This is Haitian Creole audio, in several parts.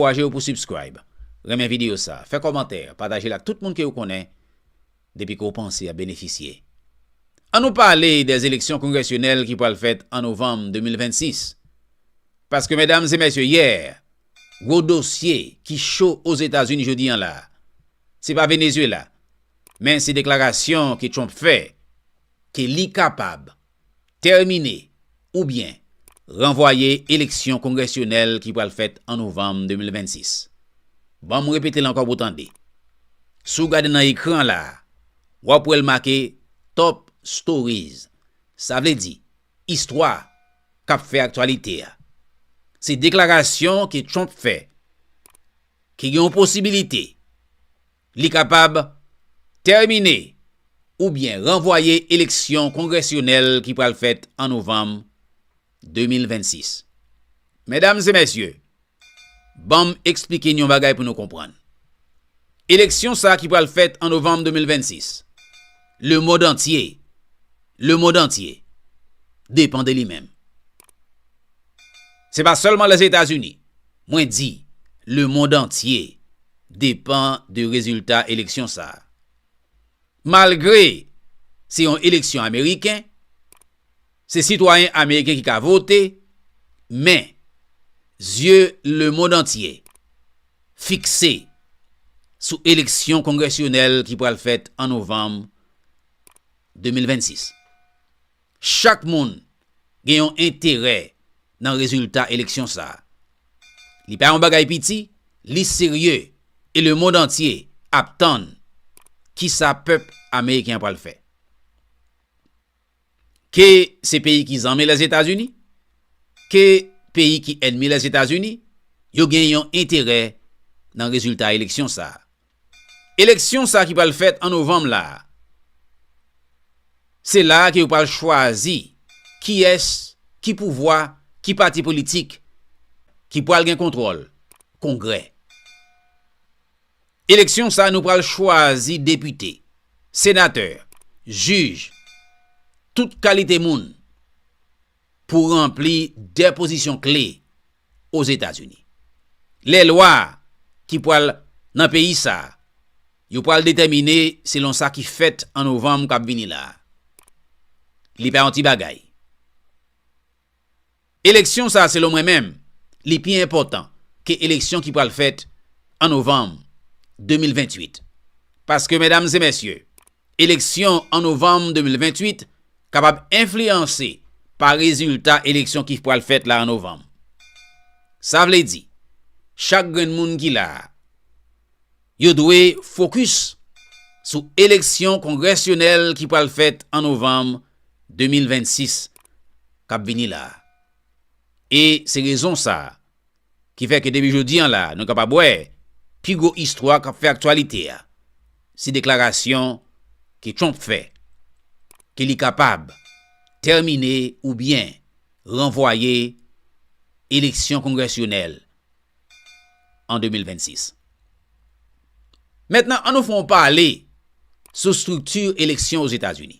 Ankouraje yo pou subscribe, renmen video sa, fè kòmantè, pataje l ak tout moun ke ou konnen depi ke ou panse ap benefisye. An nou pale dè eleksyon kongresyonèl ki pral fèt an novanm 2026. Paske medam e mesye yè, gwo dosye ki cho Ozetazini jodi an la, se pa Venezuela, men se deklarasyon ke Trump fè ke li kapab tèmine oubyen ranvwaye eleksyon kongresyonèl ki pral fèt an novanm 2026. Ban m repete l ankò pou w tande. Si w gade nan ekran an la a, w ap wè l make Top Stories, sa vle di istwa k ap fè aktyalite a. Se deklarasyon ke Trump fè ke gen yon posibilite. Li kapab tèmine oubyen ranvwaye eleksyon kongresyonèl ki pral fèt an novanm 2026. Medam e mesye, ban m eksplike n yon bagay pou nou konprann. Eleksyon sa ki pral fèt an novanm 2026, lemond antye, lemond antye, depan de li menm. Se pa sèlman Lèzetazini Mwen di, lemond antye depan de rezilta eleksyon sa. Malgre se yon eleksyon ameriken, se sitwayen ameriken ki ka vote, men, zye lemond antye fikse sou eleksyon kongresyonèl ki pral fèt an novanm 2026. Chak moun gen yon enterè nan rezilta eleksyon sa. Li pa yon bagay piti, li serye e lemond antye ap tann kisa pèp ameriken an pral fè. Ke se peyi ki zanmi Lèzetazini, ke peyi ki ènmi Lèzetazini, yo gen yon enterè nan rezilta eleksyon sa. Eleksyon sa ki pral fèt an novanm la, se la ke yo pral chwazi kiyès, ki pouvwa, ki pati politik ki pral gen kontwòl kongrè. Eleksyon sa nou pral chwazi depite, senatè, jij, tout kalite moun. pou ranpli de pozisyon kle Ozetazini. Lè lwa ki pral nan peyi sa a yo pral detèmine selon sa ki fèt an novanm k ap vini la a. Li pa yon ti bagay. Eleksyon sa a selon mwen menm, li pi enpòtan ke eleksyon ki pral fèt an novanm 2028. Paske medam e mesye. eleksyon an novanm 2028 kapab enfliyanse pa rezilta eleksyon ki pral fèt la an novanm. Sa vle di, chak grenn moun ki la a, yo dwe fokis sou eleksyon kongresyonèl ki pral fèt an novanm 2026 k ap vini la a. E se rezon sa a, ki fè ke depi jodi an la nou kapab wè pi gwo istwa k ap fè aktyalite a se deklarasyon ke Trump fè ke li kapab tèmine oubyen ranvwaye eleksyon kongresyonèl an 2026. Mentnan an nou fè yon pale sou strikti eleksyon Ozetazini.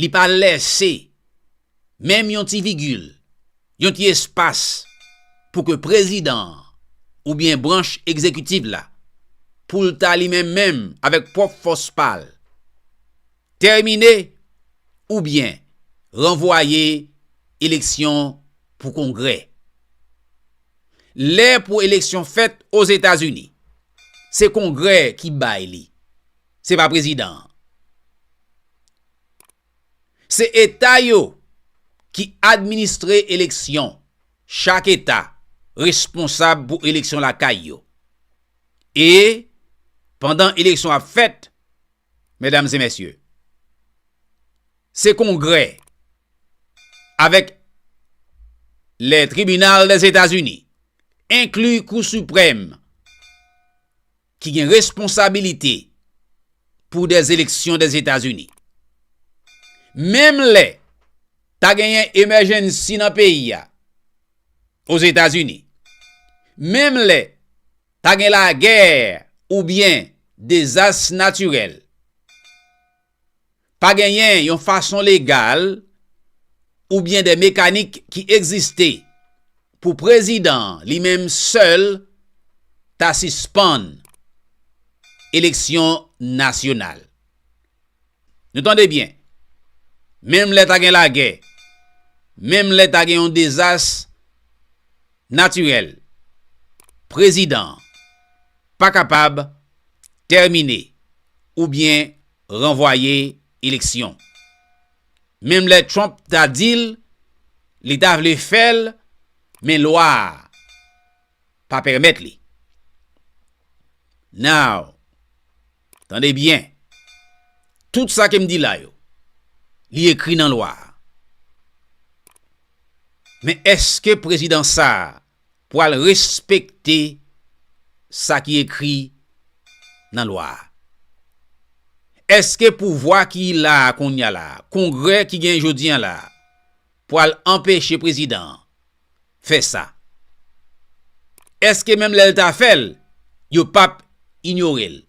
Li pa lèse menm yon ti vigil, yon ti espas pou ke prezidan an oubyen branch egzekitiv la pou l ta li menm menm avèk pwòp fòs pa l tèmine oubyen ranvwaye eleksyon pou kongrè. Lè pou eleksyon fèt Ozetazini, se kongrè ki bay li. Se pa prezidan an. Se eta yo ki administre eleksyon. Chak eta responsab pou eleksyon lakay yo. E pandan eleksyon ap fèt, medam e mesye, se kongrè avèk le tribinal dèzetazini, enkli kou siprèm, ki gen responsabilite pou des eleksyon des Etazini. Menm lè ta genyen emèjennsi nan peyi a Ozetazini, menm lè ta gen lagè oubyen dezas natirèl, Pa genyen yon fason legal oubyen de mekanik ki egziste pou prezidan an li menm sèl ta sispann eleksyon nasyonal. Nou tande byen, menm lè ta gen lagè, menm lè ta gen yon dezas, Natirèl, Prezidan an pa kapab tèmine oubyen ranvwaye eleksyon. Menm lè Trump ta di l li ta vle fè l men lwa a pa pèmèt li. Now. Tande byen, tout sa ke m di la yo, li ekri nan lwa a. Men èske prezidan sa a pral respekte sa ki ekri nan lwa a? Èske pouvwa ki la a kounye a la a, Kongrè ki genyen jodi an la a, Pwal anpeche prezidan an fè sa. Eske menm lèl ta fèl yo pap inyorel.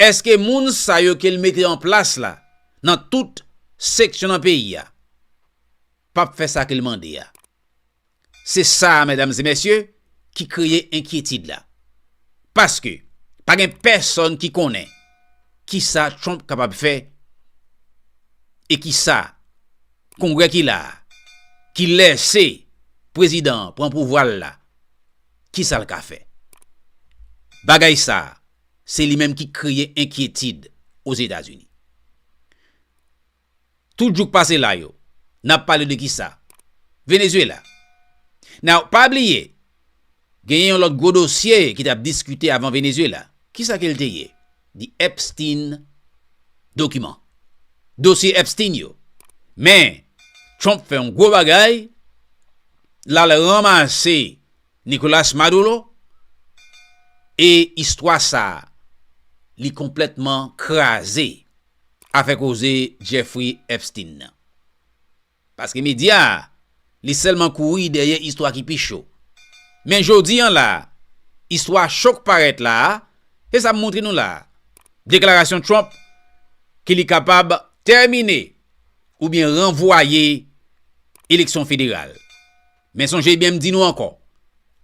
Eske moun sa yo kel mete an plas la nan tout seksyon nan peyi a pap fè sa kel mande a. Se sa a medam e mesye ki kreye enkyetid la. Paske pa gen pèsòn ki konnen ki sa Trump kapab fè e ki sa kongrè ki la a ki lèse prezidan an pran pouvwa l la ki sa l ka fè. Bagay sa a se li menm ki kreye enkyetid Ozetazini. Tout jouk pase la yo. Nap pale de kisa? Venezuela. Now, pa bliye, genyen yon lòt gwo dosye ki tap diskite avan Venezuela. Kisa ke l te ye? The Epstein document. Dosye Epstein yo. Men, Trump fè yon gwo bagay, l al ranmase Nicolas Maduro, e istwa sa, li konplètman kraze. afè koze Jeffrey Epstein nan. Paske medya a, li sèlman kouri dèyè istwa ki pi cho. Men jodi an la a, istwa cho k parèt la a, se sa m montre nou la a, deklarasyon Trump ke li kapab tèmine oubyen ranvwaye eleksyon federal. Men sonje byen m di nou ankò,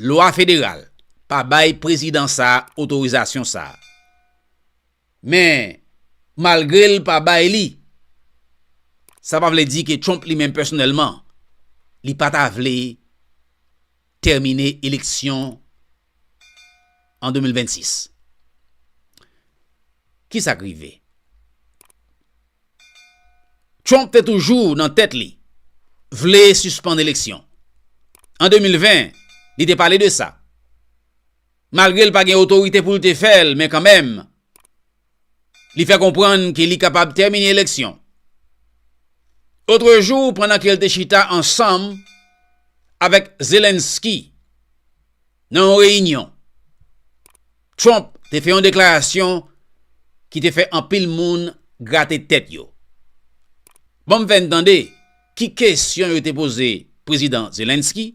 lwa federal pa bay prezidan sa a otorizasyon sa a. Men, malgre l pa bay li, sa pa vle di ke Trump li menm pèsonèlman, li pa ta vle tèmine eleksyon an 2026. Ki sa k rive? Trump te toujou nan tèt li, vle sispann eleksyon. An 2020, li te pale de sa. Malgre l pa gen otorite pou l te fè l, men kanmenm, li fè konprann ke li kapab tèmine eleksyon. Otrejou, pandan ke l te chita ansanm avèk Zelensky nan yon reyinyon, Trump te fè yon deklarasyon ki te fè anpil moun grate tèt yo. Ban m fè n tande ki kesyon yo te poze Prezidan Zelensky.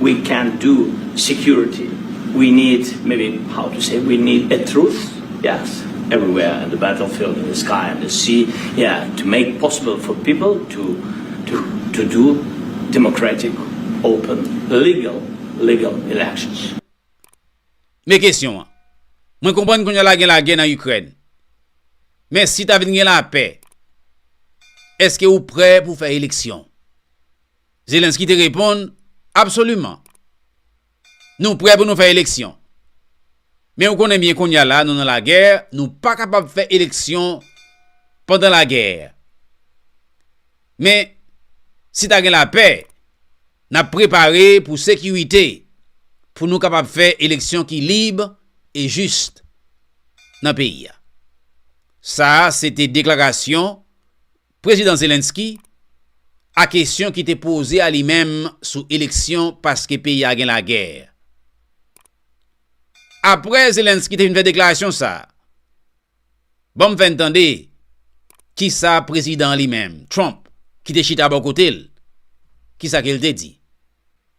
We can't do security we need maybe how to say we need a truth yes everywhere in the battlefield in the sky in the sea yeah to make possible for people to to to do democratic open legal legal elections. Men kesyon an. Mwen konprann kounye a la gen lagè nan Ikrèn. Men si ta vin gen lapè, èske ou prè pou fè eleksyon? Zelensky te reponn, Absoliman. Nou prè pou nou fè eleksyon. Men ou konnen byen kounye a la nou nan lagè, nou pa kapab fè eleksyon pandan lagè. Men, si ta gen lapè, n ap prepare pou sekirite pou nou kapab fè eleksyon ki lib e jis nan peyi a. Sa a se te deklarasyon. Prezidan Zelensky, a kesyon ki te poze a li menm sou eleksyon paske peyi a gen lagè. Aprè Zelensky te fin fè deklarasyon sa, ban m fè n tande kisa prezidan an li menm, Trump, ki te chita bò kote l, kisa ke l te di.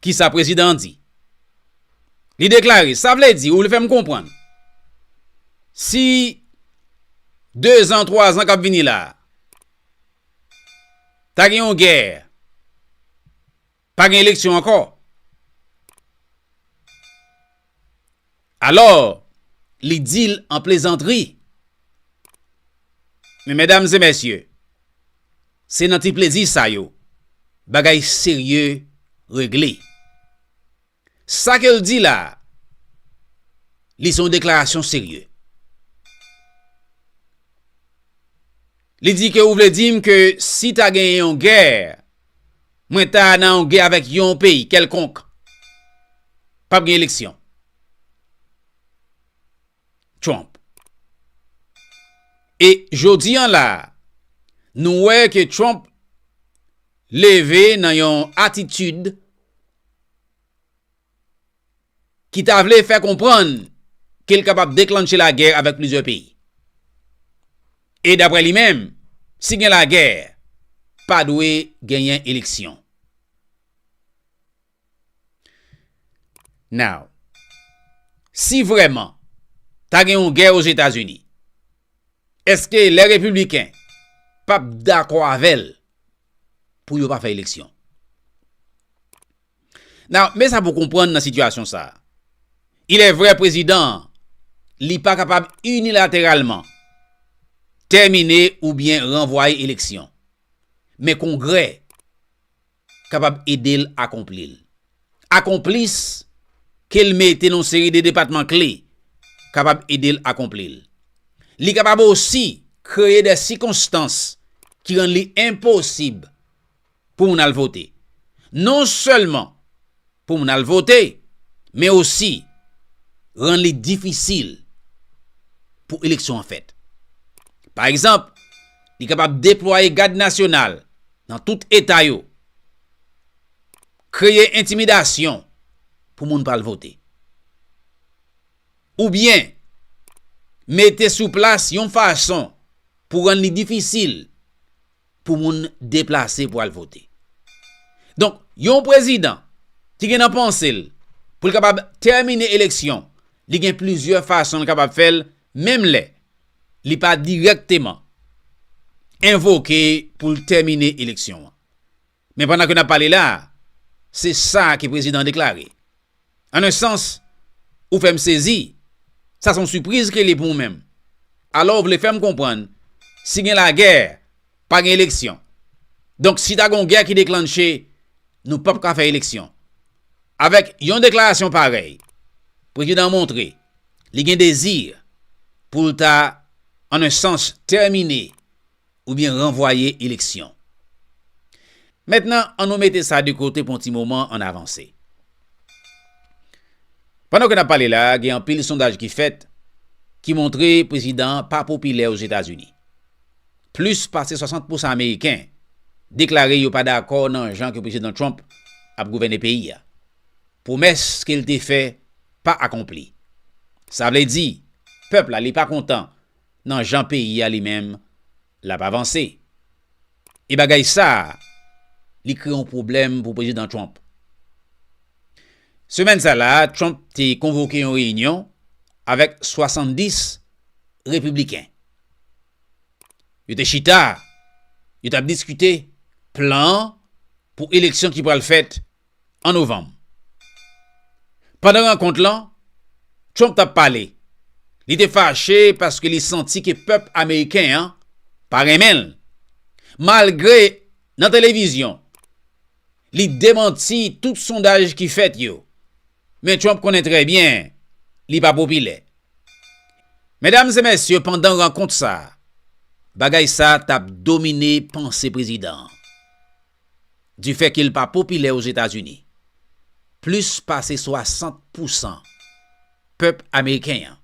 Ki sa prezidan an di? Li deklare, sa vle di, ou vle fè m konprann, si dezan, twazan k ap vini la a, ta gen yon gè, pa gen eleksyon ankò? Alò, li di l an plezantri. Men medam e mesye, se nan ti plezi sa yo bagay serye regle. Sa ke l di la a, li se yon deklarasyon serye. Li di ke ou vle di m ke si ta gen yon gè, mwen ta nan yon gè avèk yon peyi kèlkonk, p ap gen eleksyon? Trump. E jodi an la a, nou wè ke Trump leve nan yon atitid, ki ta vle fè konprann ke l kapab deklannche lagè avèk plizyè peyi. E daprè li menm, si gen lagè, pa dwe genyen eleksyon. Now, si vrèman ta gen yon gè Ozetazini, eske lè Repibliken pap dakò avè l pou yo pa fè eleksyon? Now, men sa pou konprann nan sitiyasyon sa a. Il est vrai prezidan an, li pa kapab inilateralman tèmine oubyen ranvwaye eleksyon. Men Kongrè kapab ede l akonpli l. Akonplis ke l mete nan yon seri de depatman kle kapab ede l akonpli l. Li kapab osi kreye dè sikonstans ki rann li enposib pou moun al vote. Non sèlman pou moun al vote, men osi rann li difisil pou eleksyon an fèt. Pa egzanp, li kapab deplwaye gad nasyonal nan tout eta yo, kreye entimidasyon pou moun pa al vote. Oubyen, mete sou plas yon fason pou rann li difisil. pou moun deplase pou al vote. Donk, yon prezidan ki gen nan panse l pou l kapab tèmine eleksyon, li gen plizyè fason l kapab fè l, menm lè li pa dirèkteman envoke pou l tèmine eleksyon an. Men pandan ke n ap pale la, se sa ke prezidan an deklare. An un sans, ou fè m sezi, sa son sipriz ke li pou ou menm. Alò ou vle fè m konprann, si gen lagè, pa gen eleksyon. Donk si ta gen yon gè ki deklanche, nou pap ka fè eleksyon. Avèk yon deklarasyon parèy, prezidan an montre li gen dezi pou l ta an un sans tèmine oubyen ranvwaye eleksyon. Mentnan an nou mete sa de kote pou yon ti moman an avanse. Pandan ke n ap pale la a gen anpil sondaj ki fèt ki montre prezidan an pa popilè Ozetazini. Plis pase 60 pousan ameriken deklare yo pa dakò nan jan ke prezidan Trump ap gouvène peyi a. Pwomès ke l te fè pa akonpli. Sa vle di pèp la li pa kontan. nan jan peyi a li menm l ap avanse. E bagay sa a, li kreye yon pwoblèm pou Prezidan Trump. Semèn sa la a, Trump te konvoke yon reyinyon avèk 70 repibliken. Yo te chita, yo t ap diskite plan pou eleksyon ki pral fèt an Novanm. Pandan rankont lan, Trump t ap pale. Li te fache paske li santi ke pèp ameriken an pa renmen l. Malgre nan televizyon, li demanti tout sondaj ki fèt yo, men Trump konnen trè byen li pa popilè. Medam e mesye, pandan rankont sa, bagay sa t ap domine panse prezidan an. Du fait ke l pa popilè Ozetazini, plis pase 60 pousan pèp ameriken an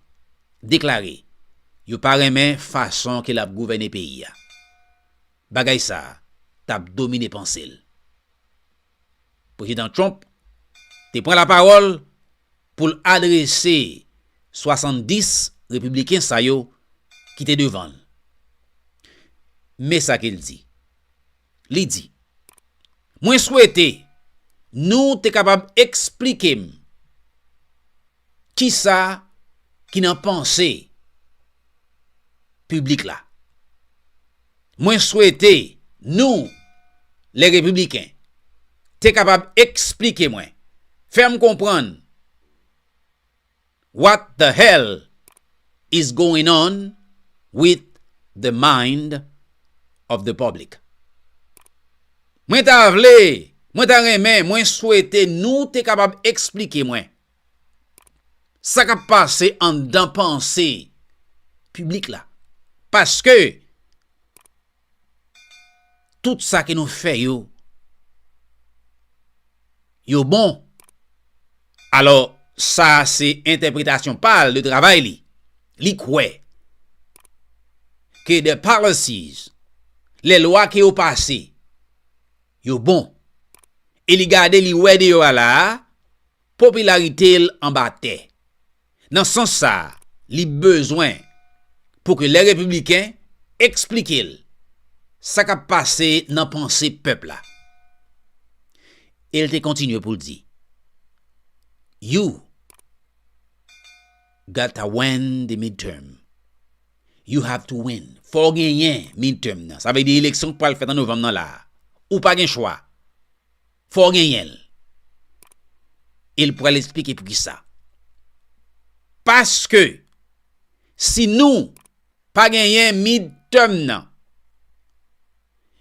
deklare yo pa renmen fason ke l ap gouvène peyi a. Bagay sa a t ap domine panse l. Prezidan Trump te pran lapawòl pou l adrese 70 repibliken sa yo ki te devan l. Men sa ke l di. Li di, Mwen swete nou te kapab eksplike m kisa ki nan panse piblik la. Mwen swete nou, lè Repibliken, te kapab eksplike mwen, fè m konprann, What the hell is going on with the mind of the public? Mwen ta vle, mwen ta renmen, mwen swete nou te kapab eksplike mwen sa kap pase anndan panse piblik la. Paske Tout sa ke nou fè yo, yo bon. Alò, sa a se entèpretasyon pa l de travay li. Li kwè ke the policies, lè lwa ke yo pase, yo bon. E li gade, li wè deyò a la a, Popilarite l anba tè. Nan sans sa a, li bezwen pou ke lè Repibliken eksplike l sa k ap pase nan panse pèp la. E l te kontinye pou l di, You got ta win the midterm. You have to win. Fò w genyen midterm nan. Sa vle di eleksyon k pral fèt an novanm nan la a. Ou pa gen chwa. Fò w genyen l. E l pral esplike pou ki sa. Paske, si nou pa genyen midterm nan,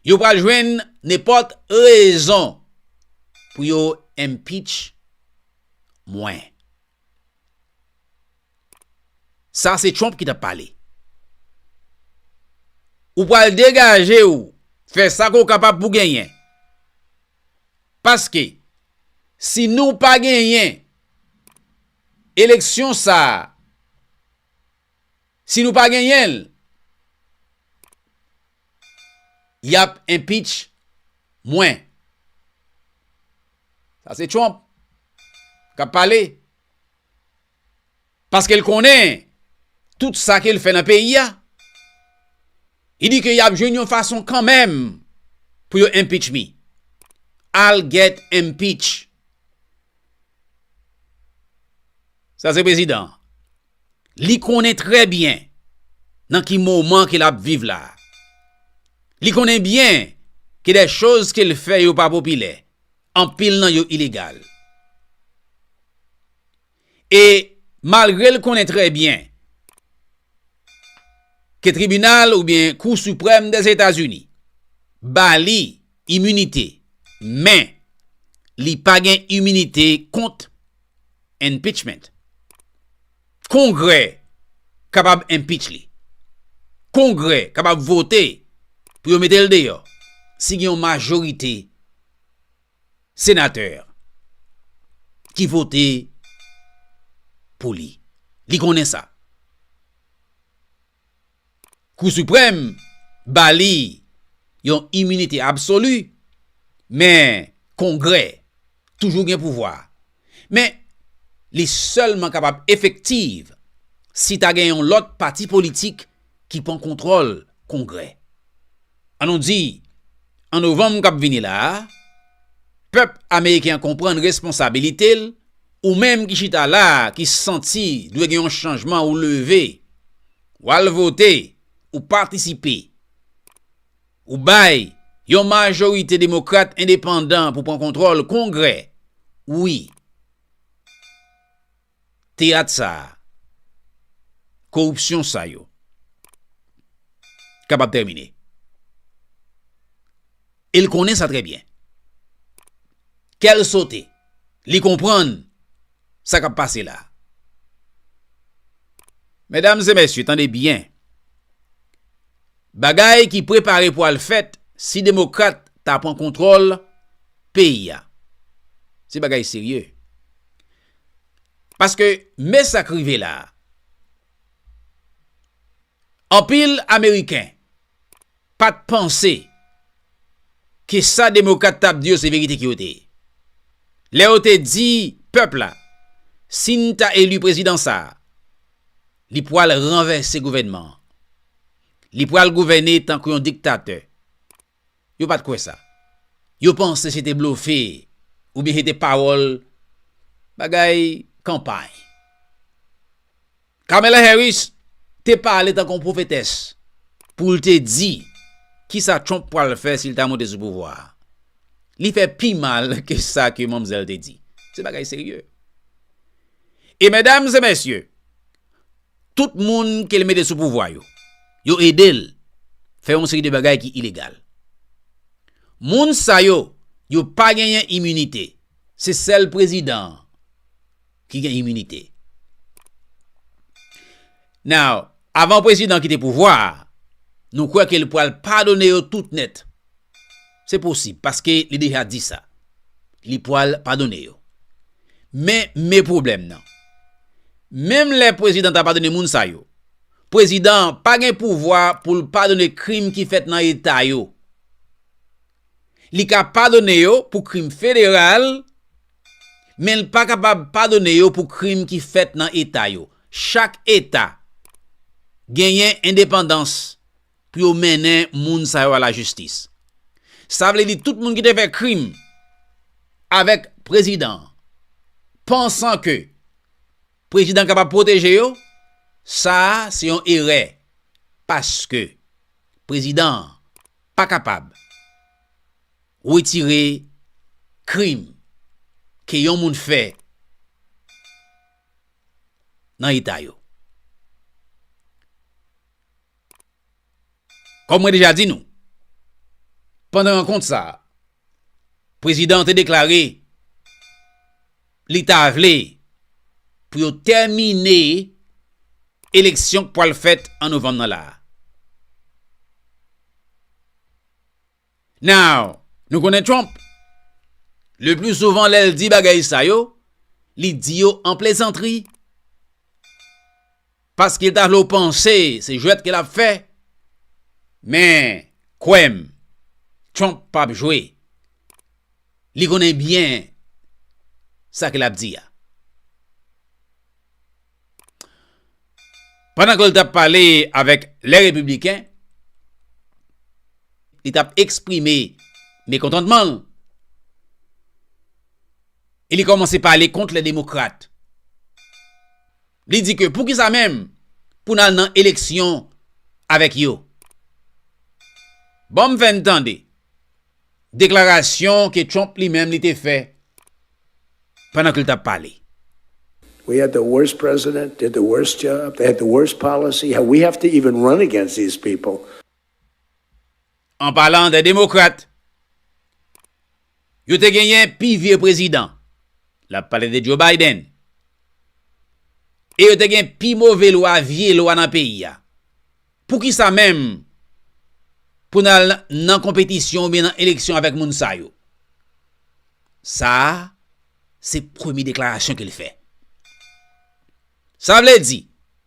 yo pral jwenn nenpòt rezon pou yo impeach mwen. Sa se Trump ki tap pale. Ou pral degaje ou fè sa ke w kapab pou genyen. Paske si nou pa genyen eleksyon sa, si nou pa genyen l, yap enpitch mwen. Sa se Trump kap pale. Paske l konnen tout sa ke l fè nan peyi a. Li di ke y ap jwenn yon fason kanmenm pou yo impeach me. Al get impeach. Sa se prezidan. Li konnen trè byen nan ki moman ke l ap viv la. Li konnen byen ke dè choz ke l fè yo pa popilè. Anpil nan yo ilegal. e malgre l konnen trè byen ke tribinal oubyen kou siprèm dè Etazini ba li iminite men li pa gen iminite kont enpichment. Kongrè kapab enpich li. Kongrè kapab vote pou yo mete l deyò si gen yon majorite Senateur ki vote pou li. Li konnen sa. Kou Supreme ba li yon iminite absolu men Kongrè toujou gen pouvwa. Men, li sèlman kapab efektiv si ta gen yon lòt pati politik ki pran kontwòl Kongrè. An nou di, an novanm k ap vini la a, pèp ameriken an konprann responsabilite l, ou menm ki chita la a ki santi dwe gen yon chanjman ou leve, w al vote, ou patisipe. Ou bay Yon majorite demokrat endepandan pou pran kontrol kongrè wi teyat sa koripsyon sa yo kapab tèmine el konnen sa trè byen kèl sote li konprann sa kap pase la medam e mesye tande byen Bagay ki prepare pou al fèt si demokrat ta pran kontwòl peyi a. Se bagay serye. Paske me sa k rive la a. Anpil ameriken pat panse ke sa demokrat t ap di yo se verite ke yo te ye. Lè yo te di pèp la si n ta eli prezidan sa a. Li pwal ranvèse gouvènman an. Li pwal gouvène tankou yon diktatè. Yo pat kwè sa. Yo panse se te blofe oubyen se te pawòl bagay kanpay. Kamala Harris te pale tankou yon pwofetès pou l te di kisa Trump pwal fè si l ta monte sou pouvwa a. Li fè pi mal ke sa ke manmzèl te di. Se bagay serye. E medam e mesye, tout moun ke li mete sou pouvwa yo, yo ede l fè yon seri de bagay ki ilegal. Moun sa yo, yo pa genyen iminite. Se sèl prezidan an ki gen iminite. Now, avan prezidan kite pouvwa a, nou kwè ke li pwal padone yo tout nèt. Se posib, paske li deja di sa. Li pwal padone yo. Men, me pwoblèm nan. Menm lè prezidan ta padone moun sa yo, prezidan an pa gen pouvwa pou l padone krim ki fèt nan eta yo. Li ka padone yo pou krim federal, men l pa kapab padone yo pou krim ki fèt nan eta yo. Chak eta genyen endepandans pou yo mennen moun sa yo a lajistis. Sa vle di tout moun ki te fè krim avèk prezidan an, pansan ke prezidan an kapab pwoteje yo, sa a se yon erè, paske prezidan an, pa kapab retire krim ke yon moun fè nan eta yo. Kòm mwen deja di nou, pandan rankont sa, Prezidan an te deklare li ta vle pou yo tèmine eleksyon k pwal fèt an novanm nan la. Now, nou konnen Trump, le pli souvan lè l di bagay sa yo, li di yo an plezantri. Paske Dalo panse se jwèt ke lap fè, men kwè m, Trump pap jwe. Li konnen byen sa ke lap di a. Pandan ke l tap pale avèk lè Repibliken, li tap eksprime mekontantman l, e li kòmanse pale kont lè Demokrat. Li di ke poukisa menm pou n al nan eleksyon avèk yo? Ban m fè n tande deklarasyon ke Trump li menm li te fè pandan ke l t ap pale. We had the worst president, did the worst job, they had the worst policy, how we have to even run against these people. An palan de demokrat, yo te genyen pi vye prezidan, l ap pale de Joe Biden, e yo te gen pi move lwa, vye lwa nan peyi a. Poukisa menm pou n al nan konpetisyon oubyen nan eleksyon avèk moun sa yo? Sa a se premye deklarasyon ke l fè. Sa vle di.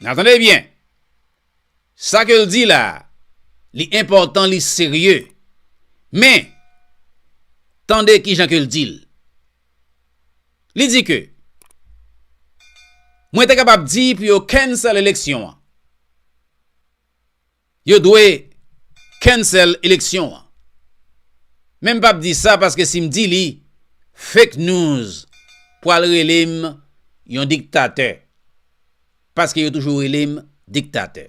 Nan tande byen! Sa ke l di la, li enpòtan, li serye. Men, tande ki jan ke l di l. Li di ke, Mwen te kapab di pou yo cancel eleksyon an. Yo dwe cancel eleksyon an. Men m pap di sa paske si m di li, fake news pwal rele m yon diktatè. Paske yo toujou rele m diktatè.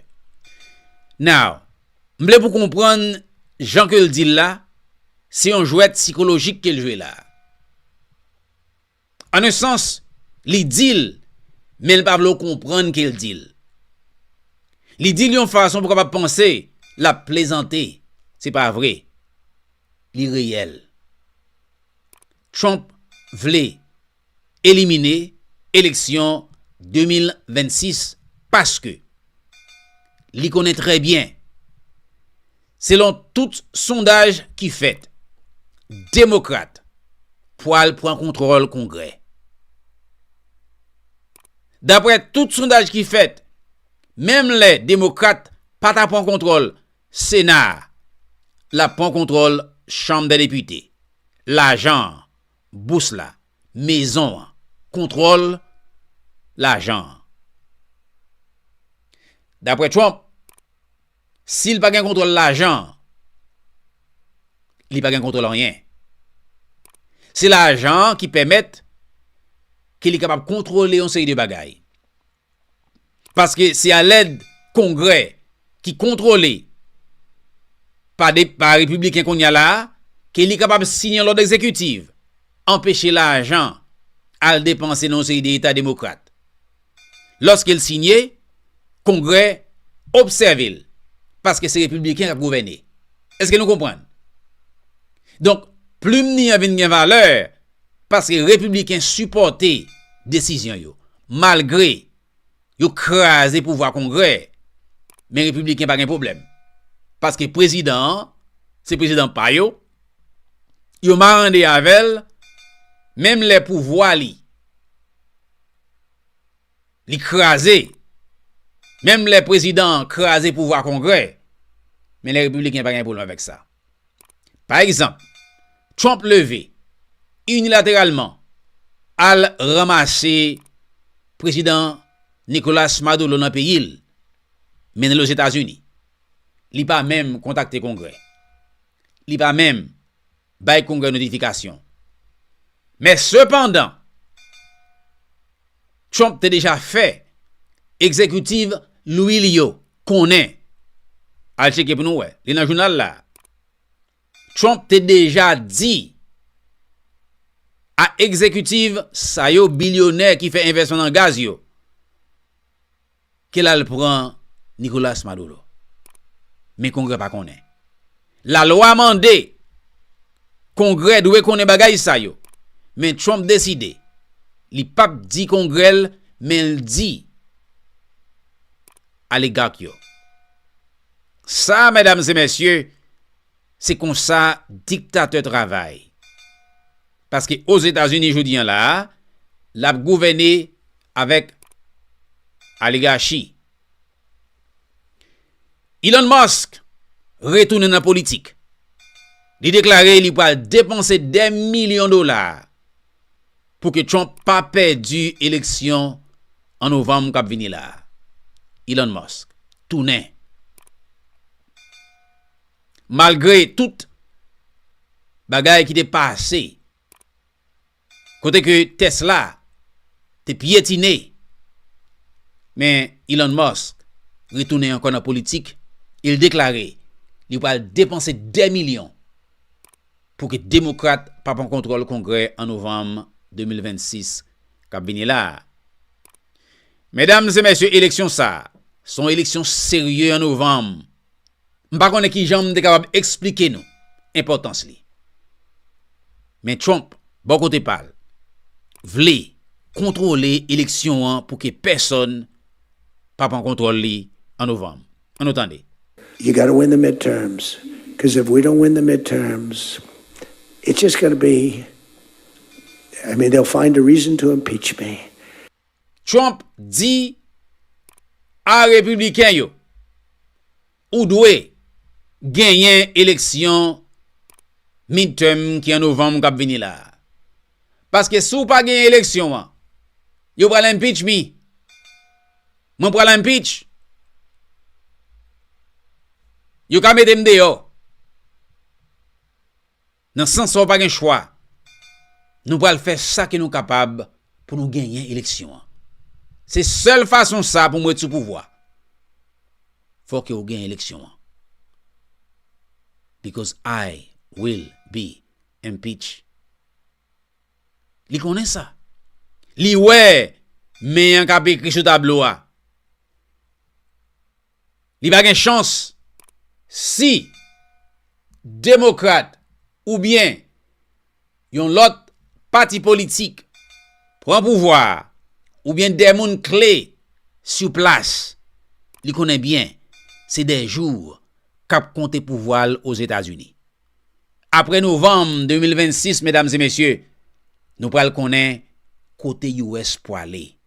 Now, m vle pou konprann jan ke l di l la, se yon jwèt sikolojik ke l jwe la. An un sans, li di l, men l pa vle w konprann ke l di l. Li di l yon fason pou w kapab panse l ap plezante. Se pa vre. Li reyèl. Trump vle elimine eleksyon 2026 paske li konnen trè byen Selon tout sondaj ki fèt, Demokrat pwal pran kontwòl Kongrè. Daprè tout sondaj ki fèt, menm lè Demokrat pa ta pran kontwòl Sena a, l ap pran kontwòl Chanm dè Depite, lajan an, bous la, mezon an, kontwòl lajan an. Daprè Trump, Si l pa gen kontwòl lajan, li pa gen kontwòl anyen. Se lajan an ki pèmèt ke li kapab kontwòle yon seri de bagay. Paske se a lèd kongrè ki kontwòle pa de, pa repibliken kounye a la a, ke li kapab siyen lòd ekzekitiv, anpeche lajan al depanse nan yon seri de eta demokrat. Lòske l siyen, Kongrè obsève l, paske se Repibliken k ap gouvène. Èske nou konprann? Donk, plim ni an vin gen valè, paske Repibliken sipòte desizyon yo. Malgre yo kraze pouvwa Kongrè, men Repibliken pa gen pwoblèm. Paske Prezidan an, se Prezidan pa yo, yo marande avè l, menm lè pouvwa li. Li kraze. Menm lè prezidan an kraze pouvwa kongrè, men lè repibliken pa gen pwoblèm avèk sa. Pa egzanp, Trump leve, inilateralman, al ranmase prezidan Nicolas Maduro nan peyi l, mennen l Ozetazini. Li pa menm kontakte kongrè. Li pa menm. bay Kongrè notifikasyon. Men sepandan, Trump te deja fè egzekitiv lwi li yo konnen, al cheke pou nou wè, li nan jounal la, Trump te deja di a egzekitiv sa yo bilyonè ki fè envèsyon nan gaz yo, Kel al pran Nicolas Maduro. Men kongrè pa konnen. La lwa mande kongrè dwe konnen bagay sa yo. Men Trump deside li pap di kongrè l men l di aligak yo. Sa medam se mesye se konsa diktatè travay. Paske Ozetazini jodi an la a lap gouvène. avèk aligachi. Elon Musk retounen nan politik. Li deklare li pral depanse dè milyon dola pou ke Trump pa pèdi eleksyon an novanm kap vini la. Elon Musk tounen. Malgre tout bagay ki te pase. Kote ke Tesla te pyetine, men Elon Musk retounen ankò nan politik e l deklare li pral depanse dè milyon pou ke Demokrat pa pran kontwòl Kongrè an Novanm 2026 k ap vini la a. Medam e mesye eleksyon sa a se yon eleksyon serye an Novanm M pa konnen ki jan m te kapab eksplike nou enpòtans li. Men Trump, bò kote pa l, vle kontwole eleksyon an pou ke pèsòn pa pran kontwòl li an novanm. An nou tande. You gotta win the midterms, cuz if we don't win the midterms, it's just gonna be, I mean, they'll find a reason to impeach me. Trump di a Repibliken yo, Ou dwe genyen eleksyon midterm ki an Novanm k ap vini la a. Paske si w pa genyen eleksyon an, yo pral impeach me. Mwen pral impeach. Yo ka mete m deyò. Nan sans sa w pa gen chwa. Nou pral fè sa ke nou kapab pou nou genyen eleksyon an. Se sèl fason sa pou m ret sou pouvwa. Fò ke w genyen eleksyon an. Because I will be impeach. Li konnen sa. Li wè men an k ap ekri sou tablo a. Li pa gen chans si demokrat oubyen yon lòt pati politik pran pouvwa a oubyen de moun kle sou plas li konnen byen se de jou k ap konte pouvwa l Ozetazini. Apre novanm 2026, medam e mesye, nou pral konnen kote US pwale.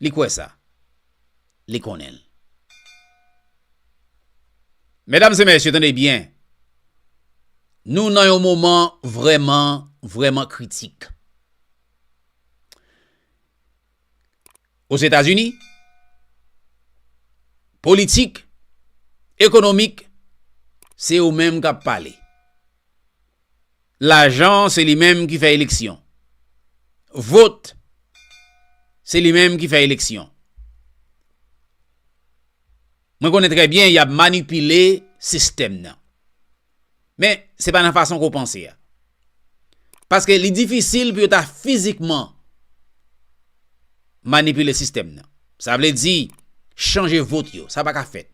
Li kwè sa. Li konnen l. Medam e mesye, tande byen. Nou nan yon moman vreman, vreman kritik. Ozetazini, politik, ekonomik, se yo menm k ap pale. Lajan se li menm ki fè eleksyon. Vot se li menm ki fè eleksyon. Mwen konnen trè byen y ap manipile sistèm nan. Men, se pa nan fason ke w panse a. Paske li difisil pou yo ta fizikman. manipile sistèm nan. Sa vle di, chanje vot yo. Sa pa ka fèt.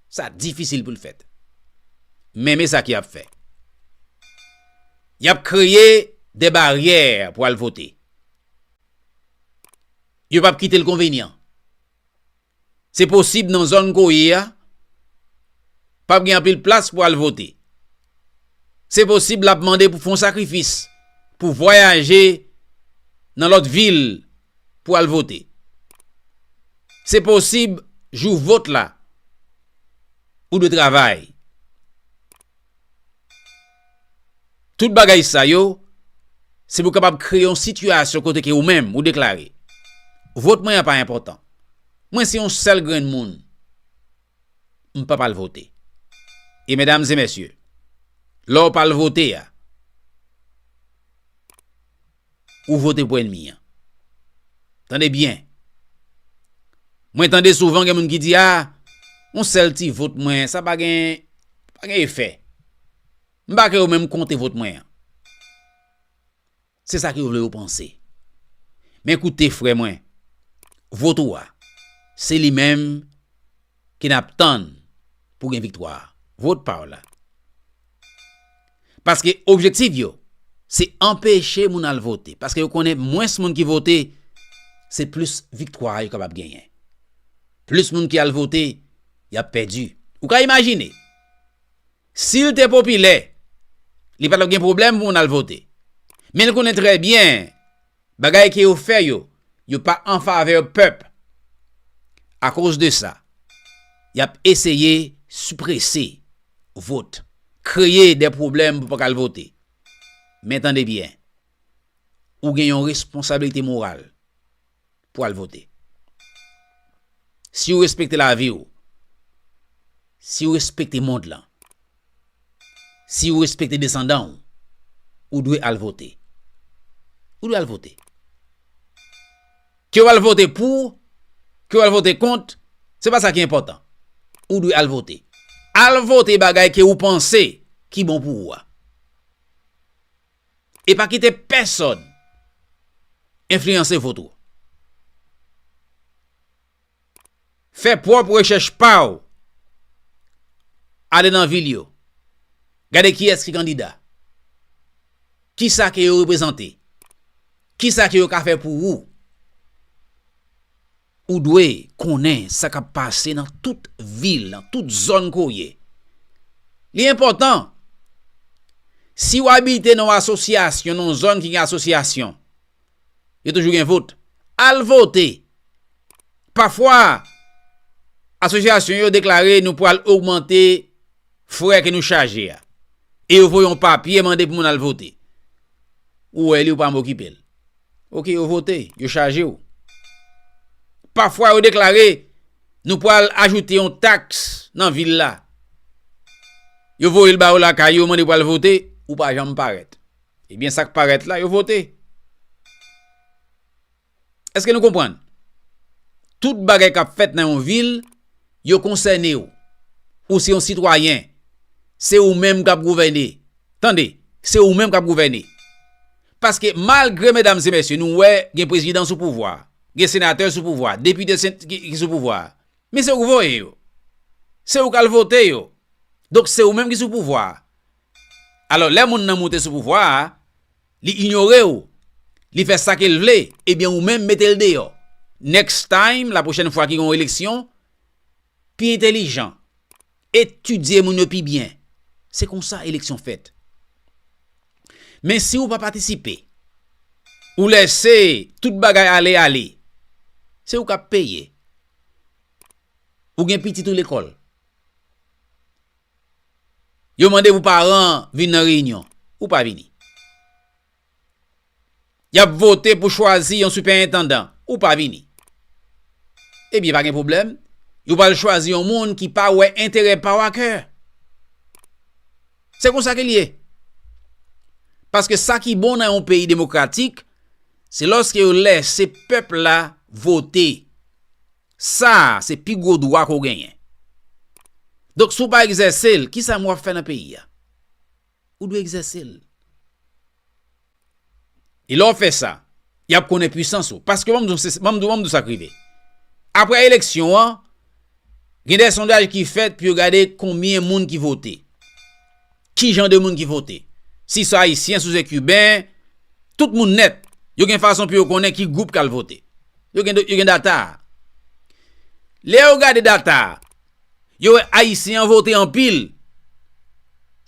Sa difisil pou l fèt. Men men sa ki ap fè. Y ap kreye de baryè pou al vote. Yo pa p kite l konvenyan. Se posib nan zòn ke w ye a, pa p gen anpil plas pou al vote. Se posib l ap mande pou w fè yon sakrifis, pou w vwayaje nan lòt vil pou al vote. Se posib jou vot la, ou dwe travay. Tout bagay sa yo, se pou kapab kreye yon sitiyasyon kote ke ou menm, ou deklare, vot mwen an pa enpòtan. Mwen se yon sèl grenn moun, m pap al vote. E medam e mesye, lè w pa al vote a, ou vote pou enmi an. Tande byen. Mwen tande souvan gen moun ki di a, yon sèl ti vot mwen, sa pa gen, pa gen efè. M pa ke yo menm konte vot mwen an. Se sa ke yo vle yo panse. Men koute frè mwen, vot ou a, se li menm. ke nap tann pou gen viktwa a. Vote pa w la. Paske objektif yo se anpeche moun al vote. Paske yo konnen mwens moun ki vote, se plis viktwa yo kapab genyen. Plis moun ki al vote, yap pèdi. Ou ka imajine, si l te popilè, li patap gen pwoblèm pou moun al vote. Men l konnen trè byen. Bagay ke yo fè yo, yo pa an favè pèp. A koz de sa, y ap eseye siprese vot, kreye de pwoblèm pou pa ka al vote. Men tande byen, ou gen yon responsabilite moral pou al vote. Si ou respekte lavi ou, si ou respekte mond lan, Si ou respekte desandan ou, ou dwe al vote. Ou dwe al vote. Ke ou al vote pou, ke ou al vote kont, se pa sa ki enpòtan. Ou dwe al vote. Al vote bagay ke ou panse ki bon pou ou a. E pa kite pèsòn enfliyanse vot ou. Fè pwòp rechèch pa w. Ale nan vil yo. Gade kiyès ki kandida. Kisa ke yo reprezante. Kisa ke yo ka fè pou ou. Ou dwe konnen sa k ap pase nan tout vil, nan tout zòn ke w ye. Li enpòtan. Si w abite nan yon asosyasyon, nan yon zòn ki gen asosyasyon, yo toujou gen vote. Al vote! Pafwa, asosyasyon yo deklare nou pwal ogmante frè ke nou chaje a. E yo voye yon papye mande pou moun al vote. Ou wè li ou pa menm okipe l. Ok, yo vote, yo chaje ou. Pafwa yo deklare nou pwal ajoute yon taks nan vil la. Yo voye l ba ou lakay yo mande pou al vote, ou pa janm parèt. Ebyen sak parèt la yo vote. Eske nou konprann? Tout bagay kap fèt nan yon vil yo konsène w. Ou se yon sitwayen. Se ou menm kap gouvène. Tande, se ou menm kap gouvène. Paske malgre medam e mesye nou wè gen prezidan sou pouvwa, gen senatè sou pouvwa, depite ki sou pouvwa. Men se ou k voye yo. Se ou k al vote yo. Donk se ou menm ki sou pouvwa. Alò lè moun nan moute sou pouvwa a, li inyore w, li fè sa ke l vle, ebyen ou menm mete l deyò. Next time, la pwochèn fwa ki gen yon eleksyon, pi entelijan, etidye moun yo pi byen. Se konsa eleksyon fèt. Men si ou pa patisipe, ou lèse tout bagay ale ale, se ou k ap peye. Ou gen pitit ou lekòl. Yo mande pou paran an vin nan reyinyon. Ou pa vini. Y ap vote pou chwazi yon sipèentandan. Ou pa vini. Ebyen pa gen pwoblèm, yo pral chwazi yon moun ki pa wè enterè pa w akè. Se konsa ke l ye. Paske sa ki bon nan yon peyi demokratik, se lòske yo lèse pèp la vote. Sa a se pi gwo dwa ke w genyen. Donk si w pa egzèse l, kisa menm w ap fè nan peyi a? Ou dwe egzèse l. E lè w fè sa, y ap konnen pwisans ou. Paske ban m di w sa k rive. Aprè eleksyon an, gen de sondaj ki fèt pou yo gade konbyen moun ki vote. Ki jan de moun ki vote? Si se Ayisyen, si se Kiben, tout moun nèt, yo gen fason pou yo konnen ki gwoup k al vote. Yo gen data a. Lè yo gade data a, yo wè Ayisyen an vote anpil.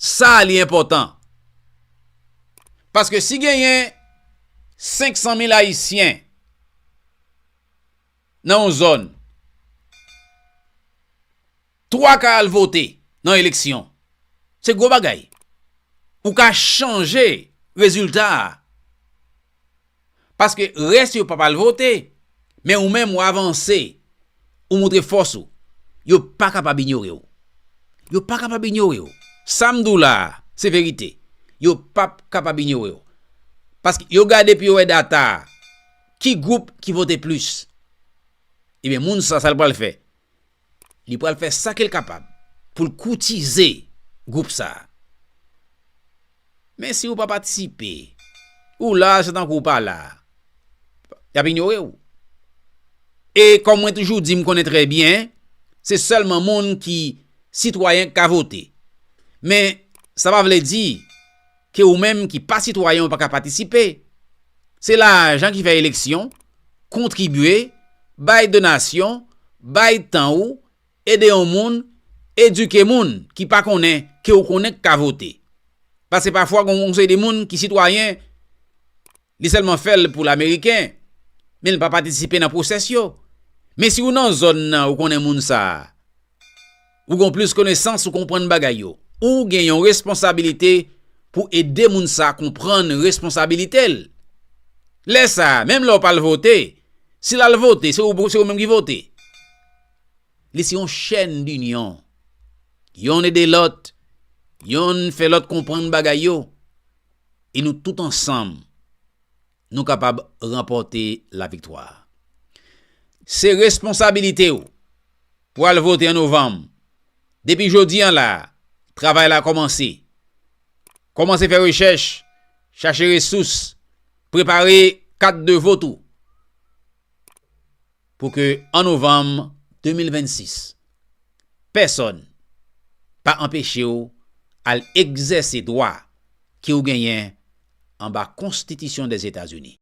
Sa a li enpòtan. Paske si genyen 500 mil Ayisyen nan yon zòn, 3 ka al vote nan eleksyon. Se gwo bagay. Ou ka chanje rezilta a. Paske rès yo pap al vote, men ou menm ou avanse, ou montre fòs ou. Yo pa kapab inyore ou. Yo pa kapab inyore ou. Sa m di w la a, se verite. Yo pap kapab inyore ou. Paske yo gade epi yo wè data a. Ki gwoup ki vote plis? Ebyen moun sa, sa l pral fè? Li pral fè sa ke l kapab pou l koutize gwoup sa a. Men si ou pa patisipe, ou la a se tankou ou pa la a. Y ap inyore ou. E kòm mwen toujou di m konnen trè byen, se sèlman moun ki sitwayen k ka vote. Men sa pa vle di. ke ou menm ki pa sitwayen ou pa ka patisipe. Se lajan ki fè eleksyon, kontribye, bay donasyon, bay tan ou, ede yon moun, edike moun ki pa konnen ke ou konnen k ka vote. Pase pafwa gon yon seri de moun ki sitwayen, li sèlman fè l pou l ameriken, men l pa patisipe nan pwosès yo. Men si ou nan zòn nan ou konnen moun sa a. Ou gon plis konesans ou konprann bagay yo. Ou gen yon responsabilite pou ede moun sa konprann responsabilite l. Lè sa, menm lè w pa al vote, si l al vote, se ou menm ki vote. Li se yon chèn dinyon. Yonn ede lòt, yonn fè lòt konprann bagay yo, e nou tout ansanm. nou kapab ranpòte laviktwa. Se responsabilite ou pou al vote an novanm. Depi jodi an la a, travay la kòmanse. Kòmanse fè rechèch, chache resous, prepare kat de vot ou. pou ke an novanm 2026, pèsòn pa anpeche w al egzèse dwa ke w genyen anba konstitisyon Dèzetazini.